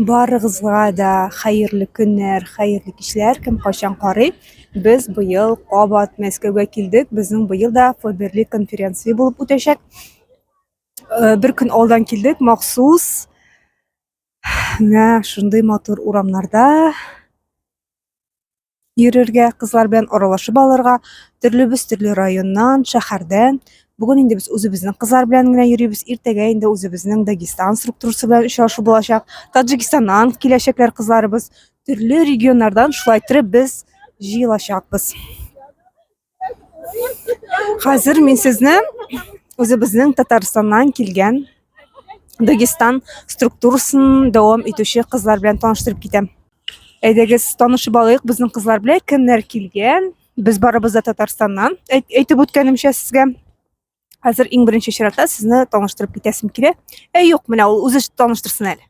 Барыгызга да хәерле көннәр, хәерле кичләр, кем кайчан карый. Без быел кабат Мәскәүгә килдек. Безнең быел да Фоберли конференция булып үтәчәк. Э, бер көн алдан килдек махсус. Менә шундый матур урамнарда йөрергә, кызлар белән аралашып алырга, төрлебез төрле районнан, шәһәрдән. Бүген инде без үзебезнең кызлар белән генә йөрибез, иртәгә инде үзебезнең Дагестан структурасы белән очрашу булачак. Таджикистаннан киләчәкләр кызларыбыз, төрле регионнардан шулай торып без җыелачакбыз. Хәзер мин сезне үзебезнең Татарстаннан килгән Дагестан структурасын дәвам итүче кызлар белән таныштырып китәм. Әйдәгез, танышып алыйк безнең кызлар белән, кемнәр килгән? Без барыбыз да Татарстаннан. Әйтеп үткәнемчә сезгә хәзер иң беренче чиратта сезне таныштырып китәсем килә. Ә юк, менә ул үзе таныштырсын әле.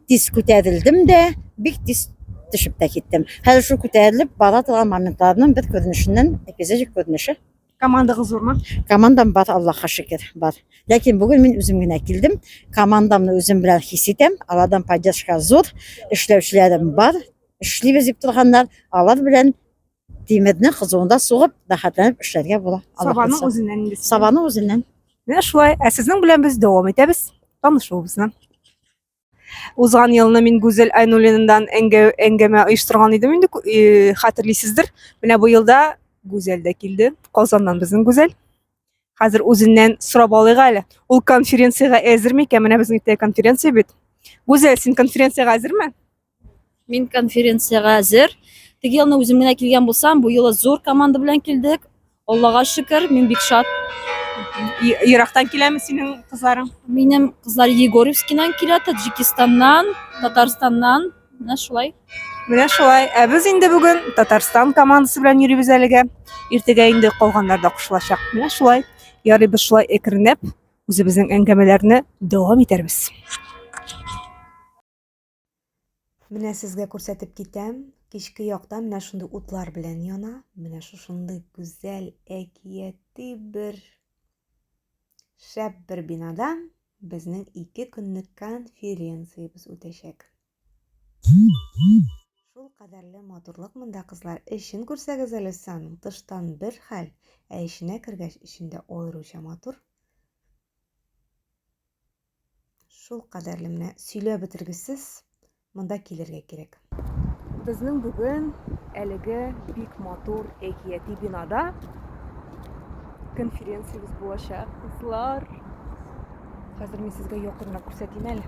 Тиз күтәрелдем дә, бик тиз төшеп тә киттем. Хәзер шул күтәрелеп бара торган моментларның бер күренешеннән эпизодик күренеше. Командагыз зурмы? Командам бар, Аллаһка шөкер, бар. Ләкин бүген мин үзем генә килдем. Командамны үзем белән хис итәм. Алардан поддержка зур, эшләүчеләрем бар. Эшлибез дип торганнар, алар белән тимерне кызуында сугып, рәхәтләнеп эшләргә була. Аллаһ Сабаның булса. үзеннән инде. сабаның үзеннән. Менә шулай. Ә сезнең белән без дәвам итәбез танышуыбызны. Узган елны мин Гүзәл Айнуллинандан әңгәмә оештырган идем инде, э, хәтерлисездер. Менә бу елда Гүзәл дә килде. Казаннан безнең Гүзәл. Хәзер үзеннән сорап алыйк әле. Ул конференциягә әзер микән? Менә безнең теле конференция бит. Гүзәл, син конференциягә әзерме? Мин конференциягә әзер. Теге елны үзем генә килгән булсам, бу юлы зур команда белән килдек. Аллага шөкер, мин бик шат. Ерактан киләме синең кызларың? Минем кызлар Егорьевскидан килә, Таджикистаннан, Татарстаннан. Менә шулай. Менә шулай. Ә без инде бүген Татарстан командасы белән йөрибез әлегә. Иртәгә инде калганнар да кушылачак. Менә шулай. Ярый без шулай әкренләп үзебезнең әңгәмәләрне дәвам итәрбез. Менә сезгә күрсәтеп китәм, кичке якта менә шундый утлар белән яна, менә шушындый гүзәл әкияти бер шәп бер бинада безнең ике көнлек конференциябез үтәчәк. Шул кадәрле матурлык монда кызлар, эчен күрсәгез әле саның, тыштан бер хәл, ә эченә кергәч, эчендә аеруча матур. Шул кадәрле менә сөйләп бетергесез монда килергә кирәк. Безнең бүген әлеге бик матур әкияти бинада конференциябез булачак, кызлар. Хәзер мин сезгә якыннан күрсәтим әле.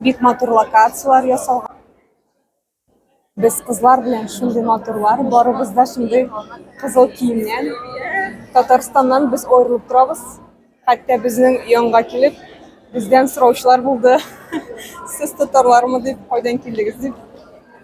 Бик матур локацияләр ясалган. Без кызлар белән шундый матурлар, барыбыз да шундый кызыл киемнән. Татарстаннан без аерылып торабыз. Хәтта безнең янга килеп, бездән сораучылар булды. Сез татарлармы дип, кайдан килдегез дип.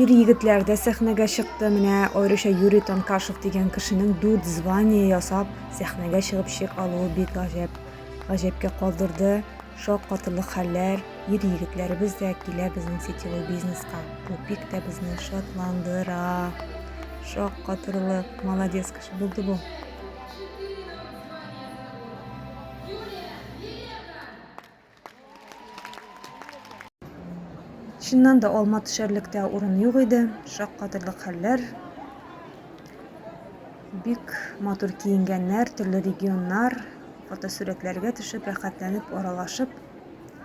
Ир-егетләр дә сәхнәгә чыкты. Менә аеруча Юрий Танкашев дигән кешенең дүрт звание ясап сәхнәгә чыгып шик алуы бик гаҗәп. Гаҗәпкә калдырды. Шок катырлык хәлләр. Ир-егетләребез дә килә безнең сетевой бизнеска. Бу бик тә безне шатландыра. Шок катырлык. Молодец кеше булды бу. Чыннан да алма төшәрлектә урын юк иде, шаккатырлык хәлләр. Бик матур киенгәннәр, төрле регионнар, фотосурәтләргә төшеп, рәхәтләнеп, аралашып,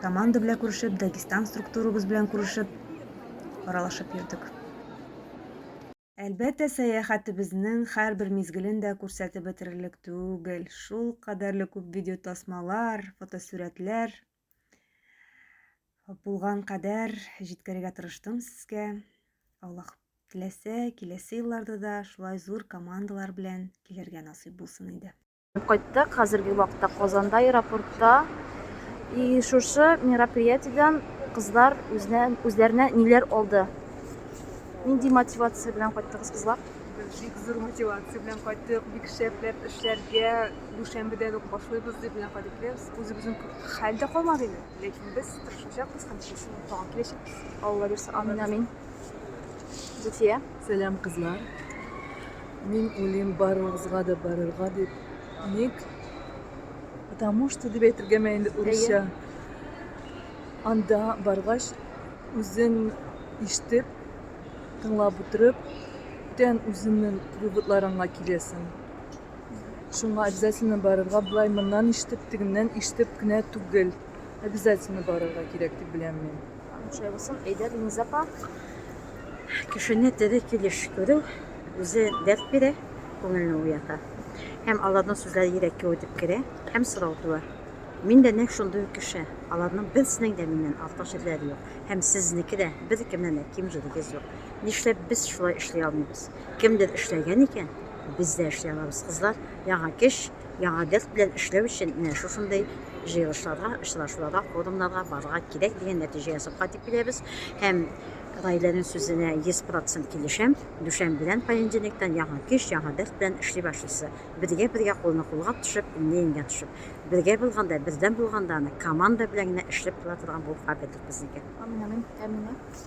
команда белән күрешеп, Дагестан структурабыз белән күрешеп, аралашып йөрдек. Әлбәттә, сәяхәтебезнең һәрбер мизгелен дә күрсәтеп бетерерлек түгел. Шул кадәрле күп видеотасмалар, фотосурәтләр булган кадәр җиткерергә тырыштым сезгә. Аллаһ теләсә, киләсе елларда да шулай зур командалар белән килергә насыйп булсын иде. Кайттык, хәзерге вакытта Казанда аэропортта. И шушы мероприятиедән кызлар үзенә, үзләренә ниләр алды? Нинди мотивация белән кайттыгыз кызлар? Бик зур мотивация белән кайттык, бик шәпләп эшләргә дүшәмбедән үк башлыйбыз дип белән кайтып киләбез. Үзебезнең хәл дә калмады инде, ләкин без тырышачакбыз һәм чиста тагын киләчәкбез. Алла бирса, амин, амин. Гүтия. Сәлам, кызлар. Мин уйлыйм барыгызга да барырга дип. Ник? Потому что дип әйтергәме инде урысча. Анда баргач, үзең ишетеп, тыңлап утырып, бүтән үзеңнең выводларыңа киләсең. Шуңа обязательно барырга, былай моннан ишетеп, тегеннән ишетеп кенә түгел. Обязательно барырга кирәк дип беләм мин. Шулай булсын, әйдә, Линиза апа. Кешене тере килеш күрү үзе дәрт бирә, күңелне уята. Һәм аларның сүзләре йөрәккә үтеп керә һәм сорау туа. Мин дә нәкъ шундый ук кеше. Аларның берсенең дә миннән артык җирләре юк. Һәм сезнеке дә беркемнән дә ким җирегез юк. Нишләп без шулай эшли алмыйбыз? Кемдер эшләгән икән, без дә эшли алабыз, кызлар. Яңа кеш, Яңа дерт белән эшләү өчен менә шушындый җыелышларга, очрашуларга, форумнарга барырга кирәк дигән нәтиҗә ясауга дип киләбез. Һәм Раиләнең сүзенә 100% килешәм. Дүшәм белән понедельниктан яңа көч, яңа дерт белән эшли башлыйсы. Бергә-бергә кулны кулга төшеп, иңне иңгә төшеп. Бергә булганда, бердәм булганда аны команда белән генә эшләп була торган булып кабердер безнеке. Амин, амин. Амин.